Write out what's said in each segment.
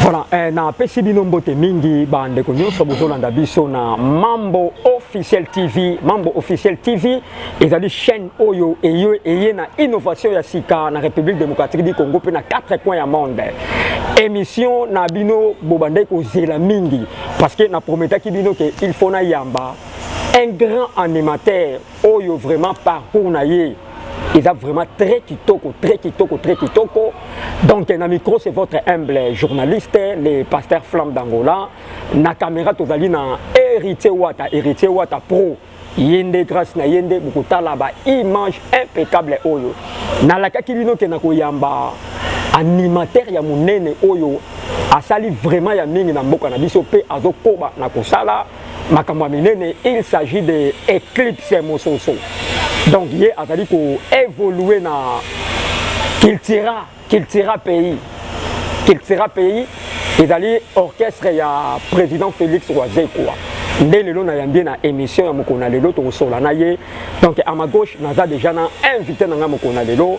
Voilà, eh, na pesi bino mbote mingi ba ndeko nyonso bozolanda biso na Mambo Officiel TV. Mambo Officiel TV ezali chaîne oyo eye, eye na innovation ya sika na République démocratique du Congo mpe na quatre coins ya monde. Émission na bino bobandaki kozela mingi parce que na prometaki bino ke il faut na yamba un grand animateur Oyo vraiment parcours na ye eza vraiment très kitoko très kitoko très kitoko donc na micro c'est votre humble journaliste le pasteur flamme d'angola na caméra tozali na héritier wata héritier wata pro ye nde grâce na ye nde bokotala ba image impeccable oyo nalakaki bino ke na koyamba animateur ya monene oyo asali vraiment ya mingi na mboka na biso mpe azokoba na kosala makambo ya minene il s'agit de éclipse mososo donc ye azali koévolue na cultura cultura pays cultura pays ezali orchestre ya président félix wazekwa nde lelo nayambi ye na émission ya mokolo na lelo tokosola na ye donc à ma gauche naza déjà na invité na ngai mokolo na lelo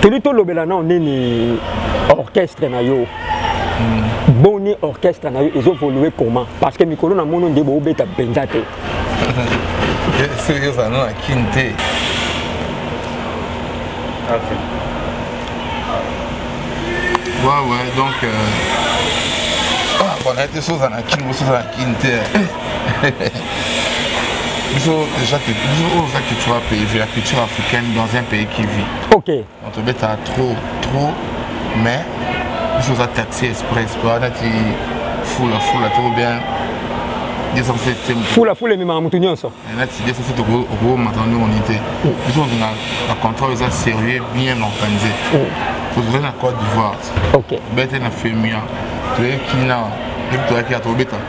teli tolobela nao nini orchestre na yo hmm. boni orchestre na yo ezovolue comment parce que mikolo na mono nde boobeta mpenza te soki ozala no na kin te ouais ouais donc euh... ah, bon, na ete soza na kin bosoza na kin te biso déjà que biso oyo oza culture ya pays vue la culture africaine dans un pays qui vit ok on te beta trop trop mais biso oza taxi express po wana ti fula fula to bien fula fula ememaka motu nyonso nati desa se tokomata ndenge oni te biso ozonga na contrôle eza sérieux bien organise tozali na côte d'ivoire bete na femia toyekina toyaki ya tobeta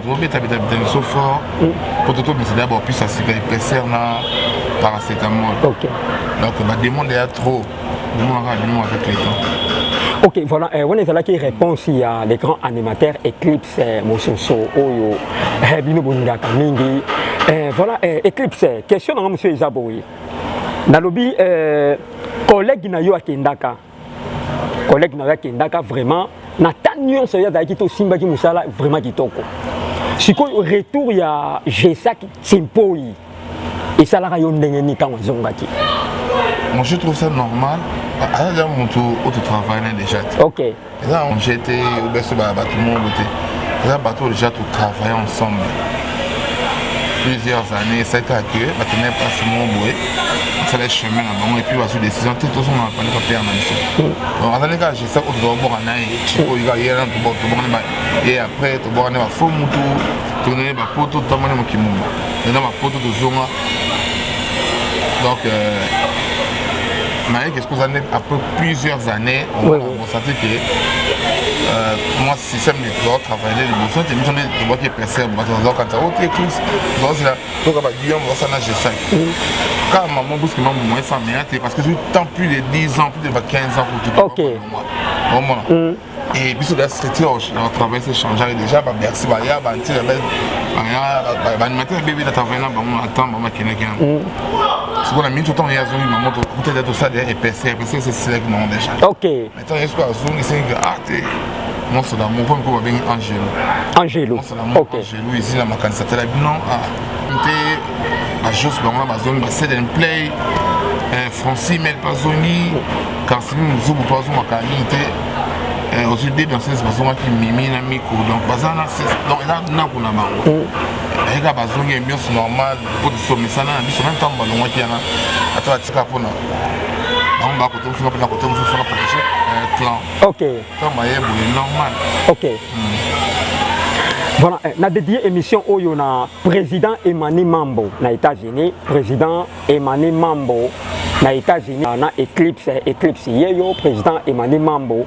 tobeta beta beta biso fort mpo totobisa deya baopesa sika epaisseur na paracetamol donc bademande ya trop demonaka bino avec le temps ok voilà euh, wana ezalaki réponse ya le grand animateur éclipse euh, mososo oyo euh, bino bolingaka mingi voilà éclipse question nanga mosusu eza boye nalobi collègue na yo akendaka collègue na yo akendaka vraiment na ta nyonso ye azalaki te osimbaki mosala vraiment kitoko sikoyo retour ya gesak simpoi esalaka yo ndenge nini ntango azongaki moi je trouve ça normal aza deja motu oyo totravaille na déjà te ok eza je te obeso bato moko te eza bato oyo déjà totravaille ensemble plusieurs années esaki ake bakendaki place moko boye asala chemin na bango epuis bazwi décision te tozonga na pande papere na biso donc azali kaka geste oyo tozoboka na ye cikoyika ye na tobokani ye après tobokani bafo mutu tokendaki bapoto totambani mokili moma eza bapoto tozonga donc euh, naye keskoza nde après plusieurs années Sati ke euh, mwa système nde tozala travaille liboso te biso nde tobwaki epresere bato bazala kanta o te tous tozala toka baguillon bazasa na g5 kaka mama buski mambo moye sans meya te parce que tout temps plus de 10 ans plus de 15 ans kutu omona et biso da structure na travail se changeaki déjà babersi baya bantina baanimateur bebe na travaille na bango na temps bama kendaki yango sikoyo na miniti ntango ye azongi na moto kuta ete tosala epese epese esesilaki nango deja ok mais ntango ye sikoyo azongi esengi ah te monso na moko moko babengi angelo angelo monso na moko angelo ezila makanisa tala bino ah te ajos bango na bazongi based and play eh, francis mel bazongi karsimi mozubu mpe azongaka mingi te eh, ozwi de danseuse bazongaki mimi na miko donc baza na donc eza nako na bango mm. ayeka bazongi ambiance normale so misana na biso meme ntango balongwaki yana ata batika mpona bango bakote mosusu mpona kote mosusu mpona proteje eh, clan ok ntango baye boye normal ok hmm. Voilà, eh, na dédié émission oyo na président Emmanuel Mambo na États-Unis, président Emmanuel Mambo na États-Unis na Eclipse Eclipse yeyo président Emmanuel Mambo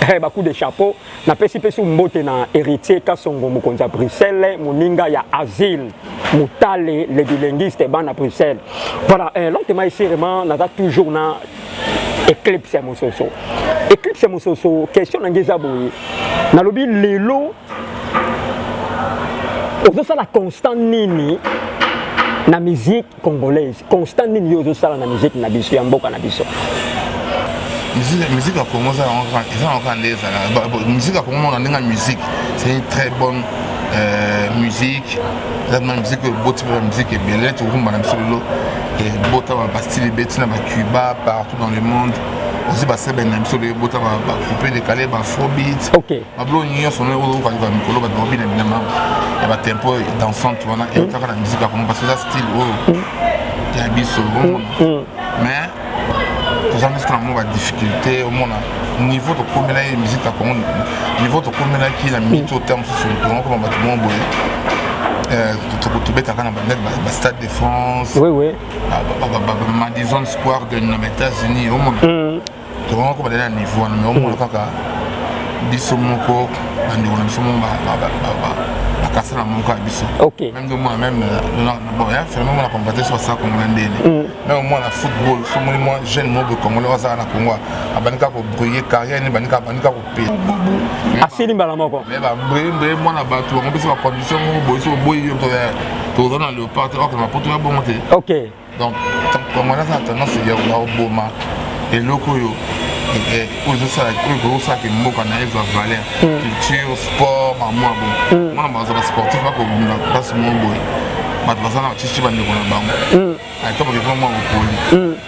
Hey, eh, ba coup de chapeau na pesi pesi mbote na héritier Kasongo mokonzi ya Bruxelles moninga ya asile mutale le bilinguiste bana Bruxelles voilà eh, lentement ici vraiment naza toujours na éclipse ya mososo éclipse ya mososo question na ngai eza boye nalobi lelo ozosala constant nini na musique congolaise constant nini yo ozosala na miziki na biso ya mboka na biso musique ya congo eza yango kaka nde ezalaka musique ya congo mona ndenge ya musique c'est une très bonne euh, musique eza na musique oyo eboti mpe bamusike ebele tokumba na biso lelo ebota bastile ebeti na bacuba partout dans le monde aussi basebene na biso lelo ebota bacoupé décalé bafrobit Bablo nyonso na oyo okoka yoka mikolo bato babina binama ya ba tempo dansante wana eutaka na musique ya kongo parce que eza style oyo ya biso omona mais toza biso na mwa ba difficulté omona niveau tokomela ye musique ya kongo niveau tokomelaki na mito ta mosusu tongo koma bato moko boye tobetaka na bandaki bastade de france madison square de na baétats-unis omona tokanga ko balela na niveau wana mais omona kaka biso moko bandeko na biso moko bakasa na moko ya biso meme nde omona meme mona combattre so basala kongo na ndene meme omona na football somoni mwa jeune mobe congolais oyo azala na kongo abandi kaka kobrille carrière ne bandi kaka kopela asili mbala moko me babrembre mwana bato bango mpesa bacondition moko boye so oboyi yo toza na leopard te okoma poto ya bongo te donc congolais aza na tendance ya koboma eloko oyo eh, oyo ekosalaki mboka na ye ezwa valeur hmm. culture sport bamwa bo hmm. mwana baza basportif bakobunda place moko boye bato baza na batisi bandeko na bango hmm. ata bakekoma mwa bopoli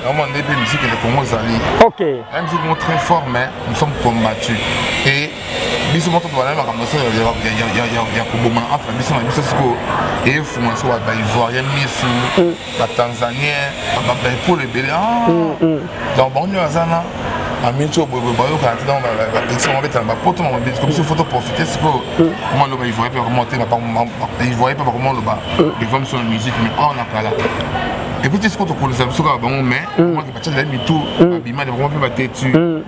yango nde mpe miziki ya kongo ezali miziki moko très fort mais nous sommes combattus et biso moko tobala makambo so ya kobomana entre biso na biso sikoyo efungola so baivoirien misu mm. batanzanien baekolo ebele ah! mm, mm. donc bango nde baza na amiti oyo boye bayokana te donc bapetisa bango betana bapoto na mabeti biso fo toprofite sikoyo koma loba ivoirien mpe bakoma te ivoirien mpe bakoma loba devant biso na musique mais awa na kala epuis te sikoyo tokolisa biso kaka bango mais omaki bacatela mitu babima de bakoma mpe batetu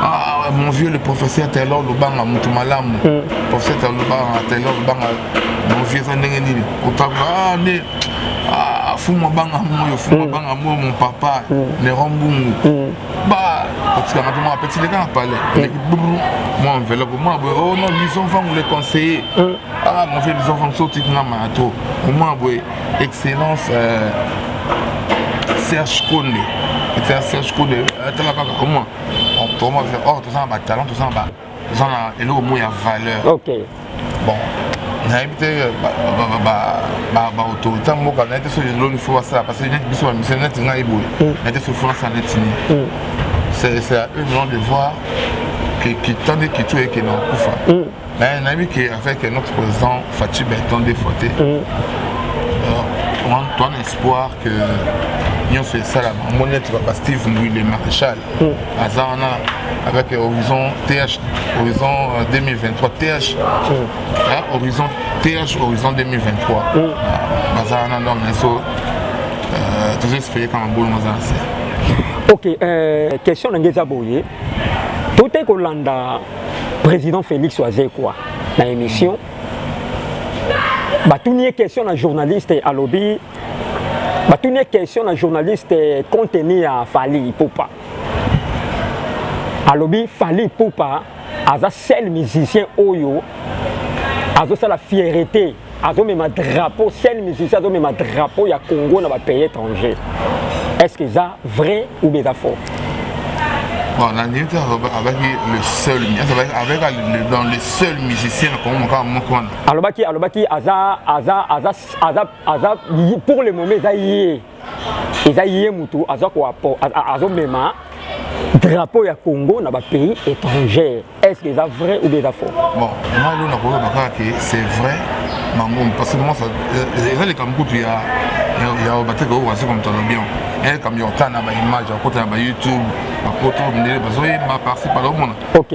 Ah, ah, mon vieux le professeur Taylor Lubanga mutu malamu mm. professeur Taylor Lubanga Taylor Lubanga mon vieux eza ndenge nini kotanga ah, nde ah, fumu abanga moyo fumu mm. abanga moyo mon papa mm. Néron Bungu mm. ba kotikanga mpe mwa apeti leka na palais mm. eleki brr mwa enveloppe mwa boye oh non lison fangu le conseiller mm. ah mon vieux lison fangu sotikanga maya trop omwa boye excellence euh, serge konde excellence serge konde atala euh, kaka omoi toma or toza na batalent toza na toza na eloko moko ya valeur ok bon nayebi te euh, baautorité ya mboka nayebi te soki eloni fo basala parce que neti biso bamisele neti ngai boye mm. nayebi te soki fo nasala neti nini mm. c'est à eux vraiment de voir kitande kitu eke na kufa mm. Mais nayebi que avec notre président Fatshi Beton des fois te. Mm. Euh, toi un espoir que nyonso esalama omoni neti papa steve mbui le maréchal mm. aza wana avec euh, horizon th horizon 2023 euh, th mm. horizon th horizon 2023 mm. ah, baza wana donc naso euh, tozo espere kama bolo maza na se ok question na nge eza boye totei kolanda Président Félix Wazekwa, na émission, batuni ye question na journaliste alobi batuni ye question na journaliste contenu ya Fally Ipupa alobi Fally Ipupa aza seul musicien oyo azosala fierté azomema drapeau seul musicien azomema drapeau ya congo na bapays étranger est ce que eza vrai ou bien eza faux Bon, la limite avec le seul, avec le, dans le seul musicien na Congo mokaba moko wana. Alobaki alobaki aza aza aza aza aza pour le moment eza ye. eza ye mutu aza ko azomema drapeau ya Congo na ba pays étrangers est-ce que eza vrai ou bien eza faux bon moi lona ko loba kaka que c'est vrai mango parce que moi ça euh, eza le kamkutu ya ya bateka ko wasi comme ton bien et comme yo tana ba image à côté ba YouTube ba photo ndele bazoyemba par ci par là omona OK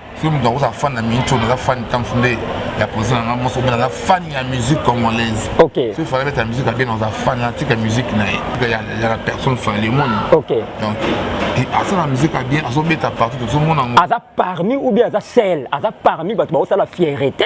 soki moto akozala fan na minute oyo naza fan ntanso nde ya posa na nga moso obe naza fan ya musique congolaise soki fala beta musique abe naza fan natika musique na ye ya la personne fale moni donc asala musique ya bien azobeta partout tozomona yango aza parmi ou bien aza sel aza parmi bato baosala fierete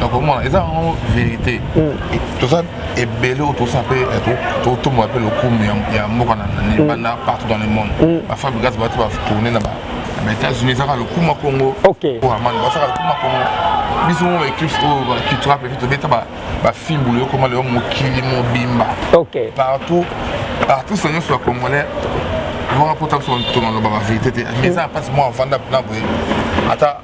donc omona eza yango vérité hmm. toza ebele oyo tosa mpe eh, totombola mpe lokumu ya mboka na hmm. banda partout dans le monde hmm. bafabrigas bato batourne na baétats-unis ezaka lokumu ya congo amani basaka lokumu ya congo biso mo baeclips oyo bacultura mpe tobeta bafimbulu yokoma leyo mokili mobimba partout partout sa nyonso ya congolais vanga mpota biso tolaloba bavérité te mais eza na mpasi mwa avanda mpona boye ata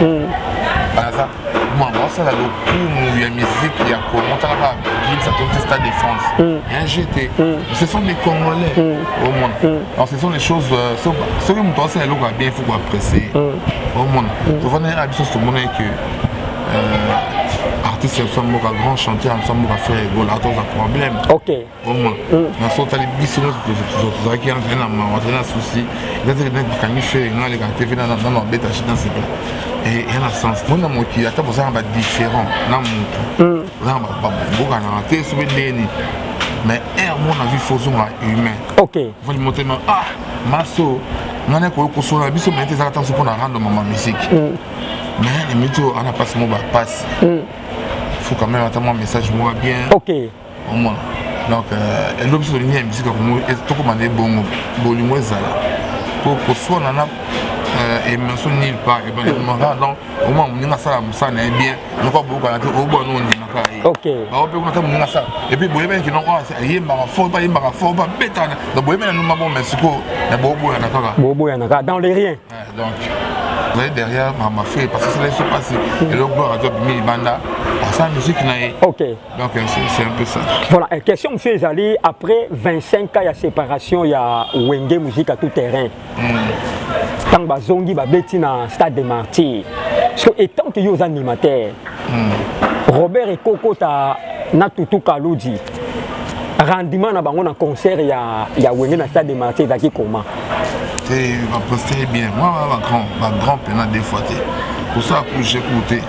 hmm. baza mama basala lokumu ya miziki ya congo tala ba gims atonti stade de france hmm. un jete hmm. ce sont des congolais omona alors ce sont des choses euh, soki moto asala eloko ya bien il faut koapprécie omona tovanai na biso tomonai que euh, artiste ya biso mboka grand chanteur ya biso mboka frère egola toza problème oma mm. na so otali biso nyonso tozalaki azali na mawa azali na susi ezazali nde bakangi fere nga aleka te mpe nano abeta shi na sika ya na sens mona mokili ata bozala na badifférent na motu mm. oza na babokanaka te so mpe ndenge nini mais aire moko na vie fo ozonga humain ofandi motema ah maso ngai nakoki kosola biso mai te ezaka ntango so mpo na rando mama misiki mm. mais na miti oyo ana mpasi mo bapasi mm. faut quand même ata mwa message moko bien omona donc euh, elobi biso tolingi ya musique ya kongo tokoma na ebongo bolingo ezala po koswana na euh, emanso nil par ebanimaka donc omona moninga asala mosala na ye bien noko abokana te obona no ondimaka ye bango mpe kuna ta moninga asala epuis boyebani kino oyo ayembaka fort mpe ayembaka fort mpe abetana donc boyebani na numa bo mais sikoyo na boboyana kaka boboyana kaka dans le rien donc ozali derrière mama fe parce que sala biso mpasi eloko gloire azo abimi libanda asala miziki na ye Donc c'est un peu ça. Voilà, et question monsieur Ezali, après 25 cas ya séparation ya Wenge musique à tout terrain. Mm. Tant bazongi ba beti na stade des martyrs. Parce que étant que yo animateur. Mm. Robert et Coco ta na tutu Kaludi. Rendement na bango na concert ya ya Wenge na stade des martyrs ezaki comment? Te ba poster bien. Moi ba grand, ba grand pena des fois te. Pour ça pour j'écouter.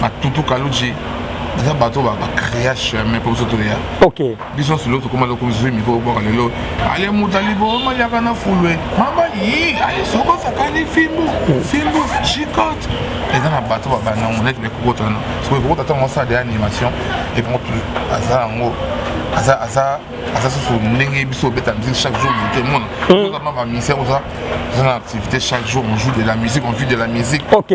ba tutu kaluji eza bato ba ba créa chemin mpo biso toya ok biso nyonso lelo tokoma loko biso mikro bwaka lelo ale moto aliboma liaka na fulwe mamba yi ale soko asakani fimbu fimbu chicote eza na bato babanda yango neti bekokota wana soko ekokota ntango asala de animation epango aza yango aza aza aza susu ndenge biso obeta musique chaque jour moto emona ozama bamisien oza oza na activité chaque jour on joue de la musique on vit de la musique ok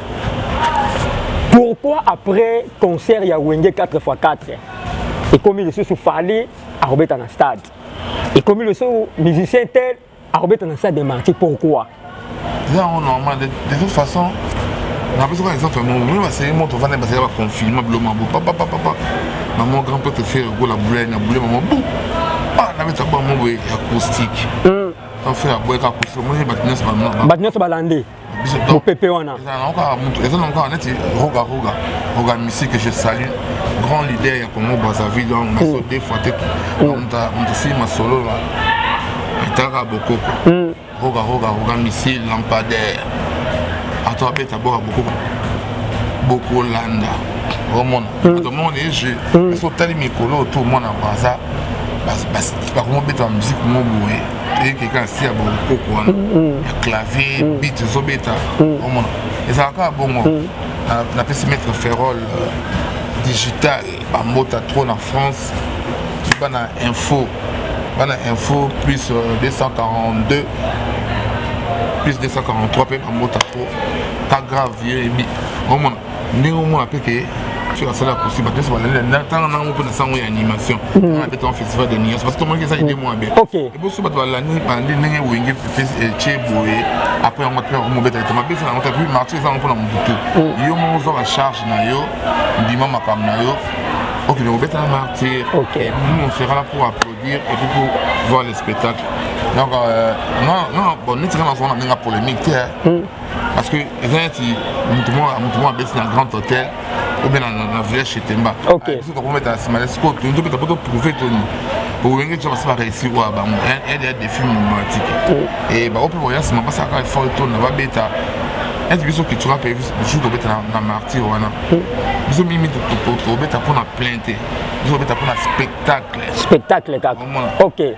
pourquoi après concert ya wenge 4x4 ekomi lisusu fali akobeta na stade ekomi lisusu musicien tel akobeta na stade de marti pourquoi eza yango normal de toute façon napesi kaka exemple yango meme baseye moto ovanda basela baconfinement bilo mabo papapapapa mamo grand prêtre fere kola boule na boule mamo bu ah, nabeta bango boye acoustique hmm. fere aboyaka acoustique omoni bato nyonso balandi mopepe wana eza nango kaka neti roga roga roga misi que je salue grand leader ya congo brazzaville donc naso hmm. deux fois te hmm. moto asili masolo na etaka bokoko hmm. roga roga roga misi lampadaire ato abeta boka bokoko bokolanda omona moto moko na ejeu soki otali mikolo oto omona braza bakomobeta miziki mo boye eyeke kaka sia bonkoko wana ya clavier bit ezobeta omona ezalaka kaka bongo napesi maître ferrol euh, digital bambota trop na france bana info bana info plus 242 euh, plus 243 mpe bambota trop pas grave yo eyebi omona ndenge omona mpe ke soki asali akosi bato nyonso balali natanga nango mpe na sango ya animation hmm. na petanga festival de niance parce que tomonaki eza idée mwa be eboso bato balandi balandi ndenge wenge tie eh, boye après yango mpe akomobeta ete mabesa yango tapi marché eza yango mpo na mobutu hmm. yo moko ozwa bacharge na yo ndima makambo na yo okende kobeta na martyr nous on sera là pour applaudir et puis pour voir le spectacle donc euh, non non bon neti nga nazonga na ndenge ya polémique te parce que eza neti motu moko abeti na grand hôtel obe na village chez temba biso tokometa nsima na sikoyo tozobeta po toprouve toni owenge ti basi bareussi oyo ya bango ede ya défi matiki e bango mpe boya nsima basalaka effort toni na babeta ete biso kitura mpe bisu tobeta na martyr wana biso mingi mingi tobeta mpo na plainte biso tobeta mpo na spectacle spectacle kaka ok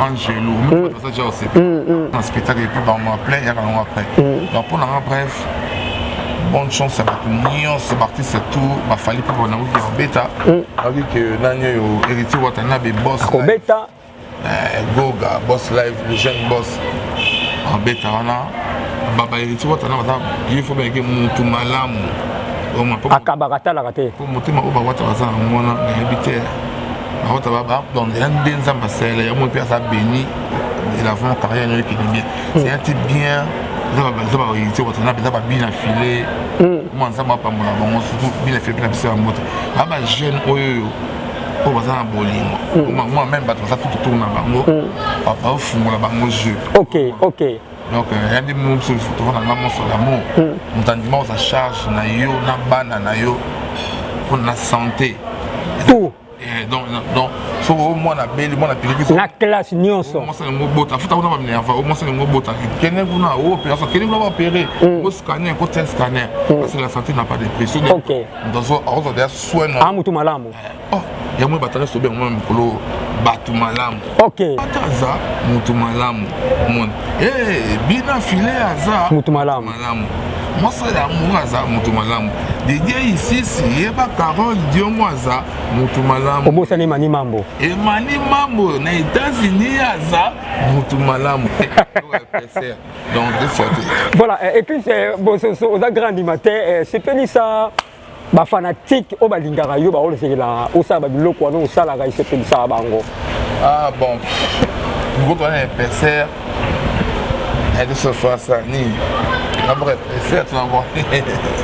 angelo moko aza ja osepe na spectacle epuis bango apres yaka nango apres donc mpo nanga bref bonne chance ya bato nyonso baartiste tout bafali mpo banakoki ya kobeta ayoki ke nani oyo héritier wata na bebos kobeta goga boss live le jeune boss abeta wana baba héritier wata na baza ye fo bayeke motu malamu akabaka atalaka te mpo motema oyo bawata baza na mwana nayebi te Akota ba ba donc ya nde nzamba sele ya mo pe asa béni de la vraiment carrière no ki bien. C'est un type bien nzamba ba nzamba ba yitse kota na beza ba bien affilé. Mo nzamba pa mona bango surtout bien affilé na bisa mbote. Ba ba jeune oyo oyo baza na bolingo moi même bato baza tout autour na bango baofungola bango jeu ok ok donc euh, yandi bino biso biso toza na nga moso d'amour hmm. moto andima oza charge na yo na bana na yo mpo na santé tout eh, donc donc soki o mwana abeli mwana piliki na classe nyonso mwasa yango obota afuta kuna baminerva o mwasa yango obota kende kuna o opération kende kuna baopere o scanner ko tia scanner parce que la santé na pas de prix soki moto azwa deja soin na motu malamu eh. oh yango bato nyonso obenga mwa mikolo bato malamu okay. ata aza moto malamu moni hey, eh, bina file aza moto malamu, malamu. mosali yango aza moto malamu didie isisi yeba carole diongo aza moto malamu obosani emani mambo emani mambo na états-unis aza moto malamu donc voilà et puis bososo oza grand animateur sepelisa bafanatike oyo balingaka yo baozelaka osala babiloko wana osalaka esepelisaka bango ah bon biloko wana epeser elisofasa nini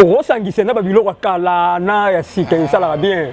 okosangisa na babiloko ya kala na ya sika esalaka bien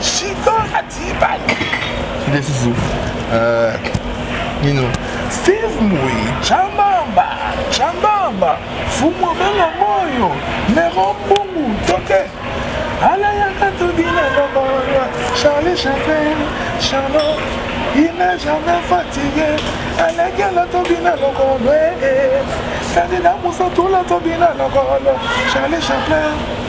Chico na T-Pac. Nde susu. Euh, nino. Steve Mui, Chambamba, Chambamba, Fumo Banga Moyo, Nero Mbungu, Toke. Ala yaka tobina baba, Charlie Chaplin, Charlot, il n'est jamais fatigué. Alekela tobina lokolo, eh, eh. Sandina Musa Tula tobina lokolo, Charlie Chaplin.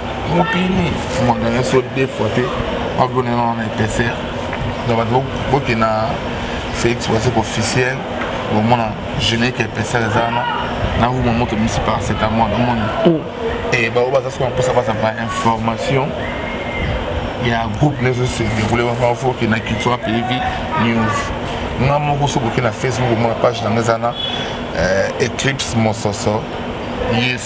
mokili maganya so deux fois te akonena wana epaisseur donc bato boke na félix wasek officiel bomona générique epaisseur eza wana na ruma moto misi paracetamol omoni mm. e baoyo baza soki baposa baza ba information ya groupe nezo se déroule wana foke na culture pays vie news nga moko soki oke na facebook omona page nanga eza na euh, eclipse mososo yesu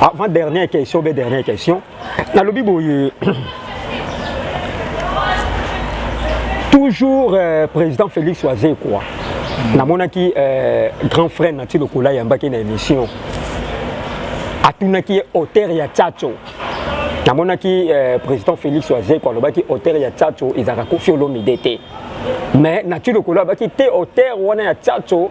avant dernière question be dernière question nalobi boye toujours euh, président félix wazekwa namonaki euh, grand frère nati lokola ayambaki na émission atunaki ye auteur ya tchatcho namonaki euh, président félix wazekwa alobaki auteur ya tchatcho ezalaka kofi olomide te mais nati lokola abaki te auteur wana ya tchatcho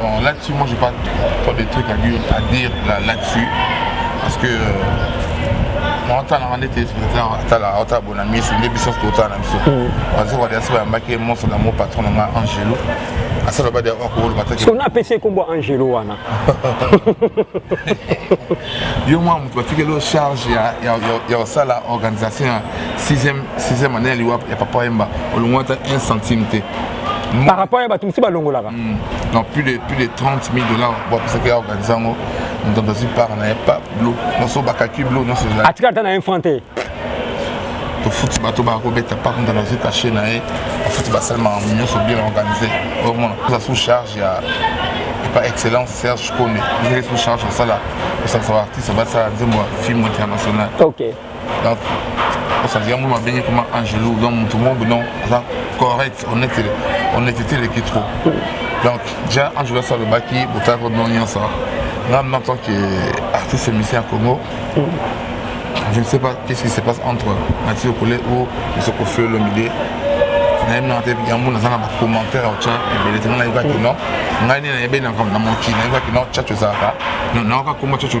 Bon, là-dessus, moi, j'ai pas trop de trucs à dire, à dire là, là-dessus. Parce que naotalanga nde te atala aotala bona miso nde biso totala na biso bazo kadi asi bayambaki monso na mo patron na nga angelo asala badi akoloba taona apesi ekombo angelo wana yo mwa moto batikeli charge ya kosala organisation ya 6e année ya liwa ya papa yemba olongwata 1 centime te par rapport ya bato mosusu balongolaka hmm. non plus de plus de 30 000 dollars bapesaki ya organise yango moto azwi part na ye pa blo nyonso bakaki blo nyonso ezali atika ata na ye franc te tofuti bato bakobeta par moto azwi cache na ye bafuti basali makambo nyonso bien organise omona oza sous charge ya par excellence serge kone ezali sous charge osala osakisa baartiste basala nzembo ya film international okay. donc osanzi yango babengi koma angelo donc moto moko bino aza correct honnêteté eleki trop donc ja angelo asi alobaki botala ko bino nyonso nga en tant que artiste musicien ya congo je ne sais pas qu'est-ce qui se passe entre mathieu kole ou esoko fio lomide nayebi nanga te yango naza na bacommentaire ya otya ebele te nga nayebaki no ngai nde nayebeli na mokili nayebaki no chacho ezalaka nayoka koma chacho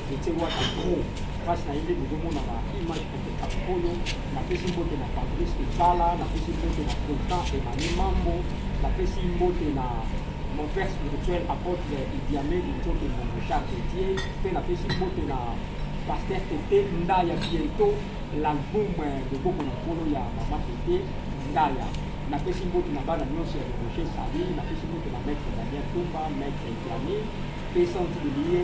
Ndetse wata pro mpasi na ye nde bozomona na image kopeka oyo napesi mbote na fabrice ebala napesi mbote na contan emani mambo napesi mbote na mon père spirituel apôtre idiame lincoke mbongo charge die mpe napesi mbote na paster tete ndaya bientot l'album loboko na nkolo ya mama tete ndaya napesi mbote na bana nyonso ya roger sali napesi mbote na maître daniel tumba maître idiame mpe santu de lie